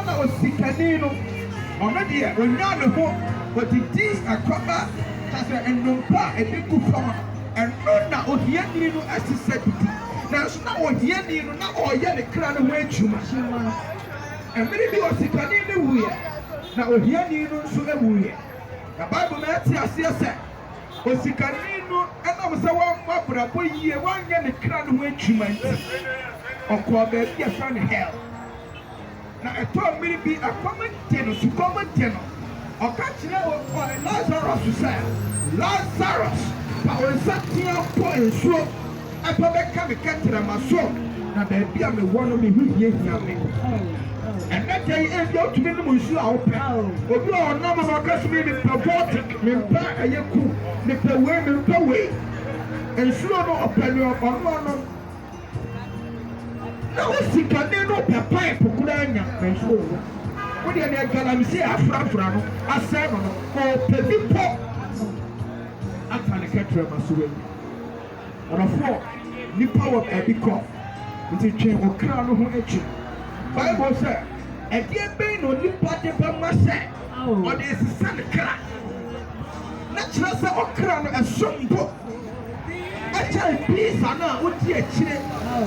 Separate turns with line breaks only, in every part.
Ɛna osikani no, ɔno deɛ ɔnyaa ne ho, ɔdidi ɛkɔba, kyerɛ sɛ nnompe a ɛde gu fam no, ɛno na ohiani no ɛsɛ sɛ didi. Nanso na ohiani no, na ɔreyɛ ne kra no ho adwuma. Mmerɛ bi osikani no wuiɛ, na ohiani no nso wuiɛ. Na Bible ma yɛte aseɛ sɛ, osikani no, ɛnam sɛ wammɔ abrabɔ yie, wanyɛ ne kra no ho adwuma nti, ɔkɔɔ baabi a yɛfrɛ no hell. Na ɛtɔ mmere bi a ɛkɔm de no, sukɔm de no, ɔka kyerɛ ɔyɛ Lasarus sɛ, Lasarus, fa wo nsa teɛ bɔ nsuo fa bɛka me kɛtrɛma so, na baabi a mewɔ no me ho hiahia me. Ɛnnɛ da yi, ebia wotumi nom nsuo a wopɛ. Obi wɔ hɔ ɔnom na ɔka sɛ, mempɛ Voltic, mempɛ ɛyɛ cool, mepɛ wei, mempɛ wei. Nsuo no, ɔpɛ nea ɔno ɔnom. Na wo sikani no pɛ pipe koraa nya nanso ɔnhu. Wo deɛ deɛ galamsey a afrafra no asɛe no no ɔpɛ bi pɔ ata ne kɛtrɛma so wanya. Ɔdɔfoɔ, nnipa wɔ baabi kɔ nti twe wo kra no ho akyi. Bible sɛ, Ɛdeɛ bɛn na onipa de bɛma sɛ ɔde resesa ne kra? Na kyerɛ sɛ ɔkra no ɛso mpo. Ɛkyɛn Pisa no a odi akyire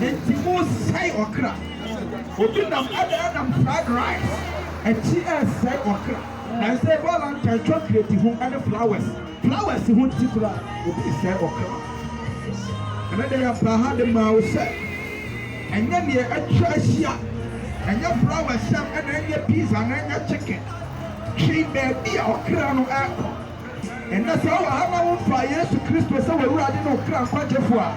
nti mo sɛe ɔkra. Obi nam ɛna ɛnam fried rice akyi ɛsɛe ɔkra. Nansɛ valentine chocolate ho ɛne flowers flowers ho nti koraa obi resɛe ɔkra. Ɛnɛ deɛ yɛbaa ha de maa wo sɛ ɛnyɛ deɛ atwa ahyia ɛnyɛ flowers sɛm ɛna ɛnyɛ pizza na ɛnyɛ chicken twe baabi a ɔkra no ɛkɔ. Ɛnnɛ sɛ wowɔ ha na womfaa Yesu Kristo sɛ w'Awurade ne wo kra nkwagyefoɔ a,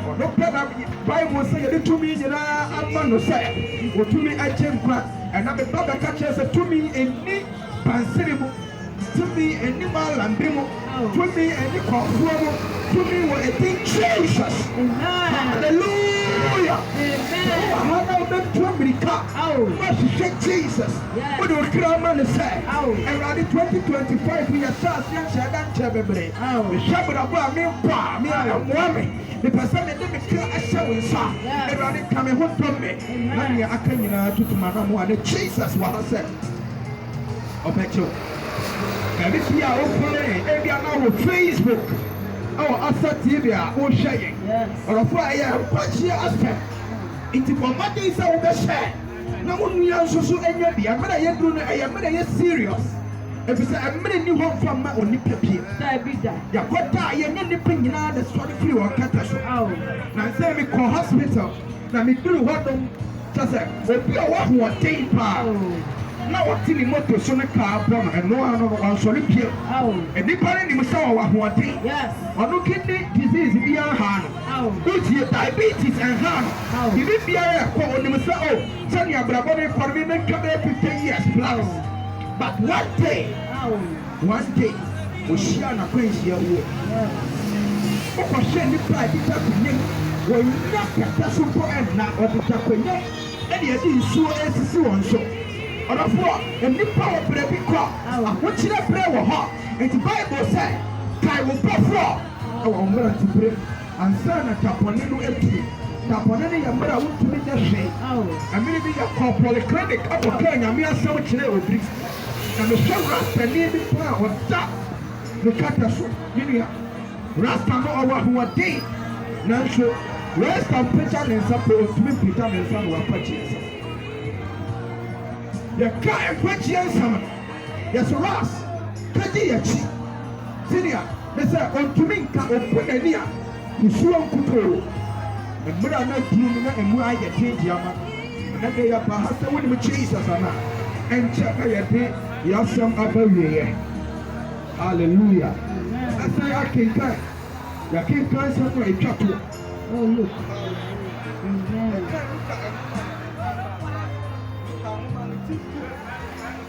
Ɔno pɛ na Bible sɛ yɛde tumi nyinaa ama no sɛ ɔtumi gye nkwa. Ɛna meba bɛka kyerɛ sɛ tumi nni bansere mu, tumi nni maalambi mu, tumi nni kɔmfoɔ mu, tumi wɔ ɛdin Jesus. Hallelujah! Sɛ wowɔ ha na wobɛtu amirika na woahwehwɛ Jesus, Wode wo kra ma no sɛ, Awurade, 2025 yɛ sɛ aseɛ nkyɛɛ da nkyɛɛ mebre. Mehwɛ abrabɔ a merebɔ a, mea mmoa me. Mepɛ sɛ mede me kra hyɛ wo nsa. Awurade ka me ho dom me. Na nea aka nyinaa tutu m'anamoa. Na Jesus wɔ ha sɛ ɔbɛgye wo. Baabi biara a wokɔ yi, ebia na wɔ Facebook, ɛwɔ Asa TV a wohwɛ yɛn. Ɔdɔfoɔ a ɛyɛ nkwagyeɛ asɛm. Nti bɔ mmɔden sɛ wobɛhyɛ. Na mo nua nso so nya bi. Ɛmere a yɛduru no ɛyɛ mmerɛ ɛyɛ serious efisɛ ɛmere nni hɔ mfa mma onipa bio. Daabi da. Yɛkɔ da a yɛnyɛ nnipa nyinaa na ɛsɔre firi wɔn kɛtɛ so. Nansɛ me kɔɔ hospital na me duru hɔ nom kyɛ sɛ obi a ɔwɔ ahoɔden paa na ɔte ne moto so ne kaa bɔ no ɛno ara no no wansɔre bio. Nnipa no nim sɛ ɔwɔ ahoɔden. Ɔno kidney disease bi anhaa no. Wo tie diabetes ɛnhaa no biribi biara ɛkɔ onim sɛ oh sɛnea abrabɔ no rekɔ no me mɛtwa bɛyɛ fifty years plus but one day one day ohyiaa no akwanhyia wuo. Wokɔ hwɛ nnipa a ɛdeda konyam wɔnnya kɛtɛ so mpo ɛnna wɔdeda konyam ɛna ɛde nsuo ɛresisi wɔn so. Ɔdɔfoɔ nnipa wɔ brɛ bi kɔ ahokyerɛ brɛ wɔ hɔ nti bible sɛ kae wo bɔfoɔ. wɔ mmerante berem ansa na da bɔne no aduru. Da bɔne no yɛ mmerɛ a wontumi nyɛ hwee. Mmere bi yɛkɔɔ polyclinic kɔkaa Nyame asɛm kyerɛɛ obi. Na mehwɛ Rastani bi paa a ɔda ne kɛtɛ so. Me nua, Rasta no ɔwɔ ahoɔden, nanso Rasta mpagya ne nsa mpo, ɔntumi mpagya ne nsa na wafa Jesus. Yɛka nkwagyeɛ nsɛm no, yɛse Ras, bɛdi yɛakyi. Senior. ne sɛ ɔntumi nka ɔfo ani a ne suo nkutoo. Mmerɛ a na aduru no na ɛmu ayɛ den deɛ ama ɛnɛ deɛ yɛba ha sɛ wonim Jesus anaa? Ɛnkyɛ na yɛde yɛn asɛm aba awieɛ. Hallelujah! Ɛsɛ akenkan, yɛakenkan nsɛm no a ɛtwa toɔ. Oh, look. Amen.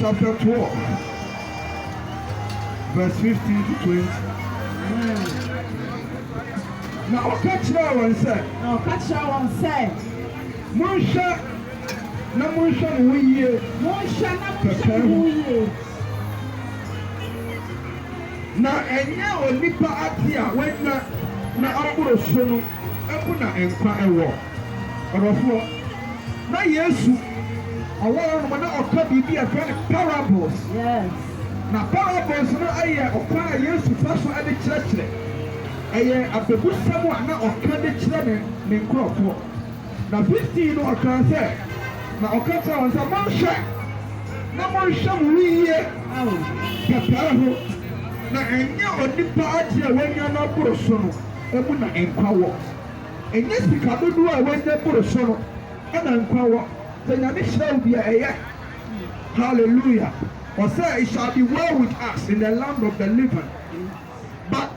chapter twelve verse fifteen to twenty. Na ɔka kyerɛɛ wɔn sɛ. Na ɔka kyerɛɛ wɔn sɛ. Monhwɛ na monhwɛ mo ho yie. Monhwɛ na monhwɛ mo ho yie. Na ɛnyɛ onipa ade a wanya na aboro so no mu na nkwa wɔ. Ɔdɔfoɔ, na Yesu ɔwɔ hɔ nom na ɔka biribi a yɛfrɛ no parables. Na parables no yɛ ɔkwan a Yesu fa so de kyerɛkyerɛ. Ɛyɛ abɛbusɛm a na ɔka de kyerɛ ne ne nkurɔfoɔ. Na 15 no ɔkaa sɛ, Na ɔka kyerɛɛ wɔn sɛ, Monhwɛ na monhwɛ mo ho yie pɛpɛɛ ho, na ɛnyɛ onipa adeɛ a wanya no aboro so no mu na nkwa wɔ. Ɛnyɛ sika dodoɔ a wanya boro so no na nkwa wɔ sɛ Nyame hyira wo deɛ ɛyɛ hallelujah ɔsɛ it shall be well with us in the land of the living but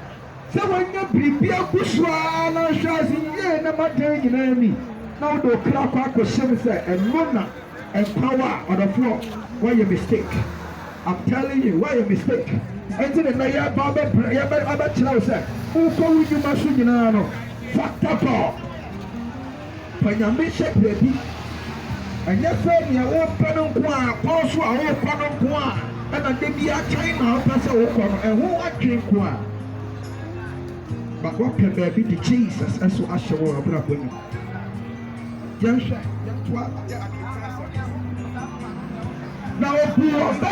sɛ wanya biribi agu so ara na nhwɛ ase yie na ma dan nyinaa ni na wode wo kra kɔ akɔhyɛ mu sɛ ɛno na nkwa wɔ a ɔdɔfoɔ woayɛ mistake. I'm telling you woayɛ mistake ɛnti ne nɛ yɛɛba abɛbrɛ yɛɛbɛ abɛkyerɛ wo sɛ wokɔ wo nyuma so nyinaa no fa kɔkɔ fa nyame hyɛ birabi ɛnyɛ sɛ neɛ wopɛ no nko a kɔn so a wokɔ no nko a ɛna da bi a China wopɛ sɛ wokɔ no ɛho adwen nko a but wapɛ baabi de Jesus ɛso ahyɛ wo abrabɔ nim yɛnhwɛ yɛntoa yɛ akenkan sɛ na obu wɔn bɛ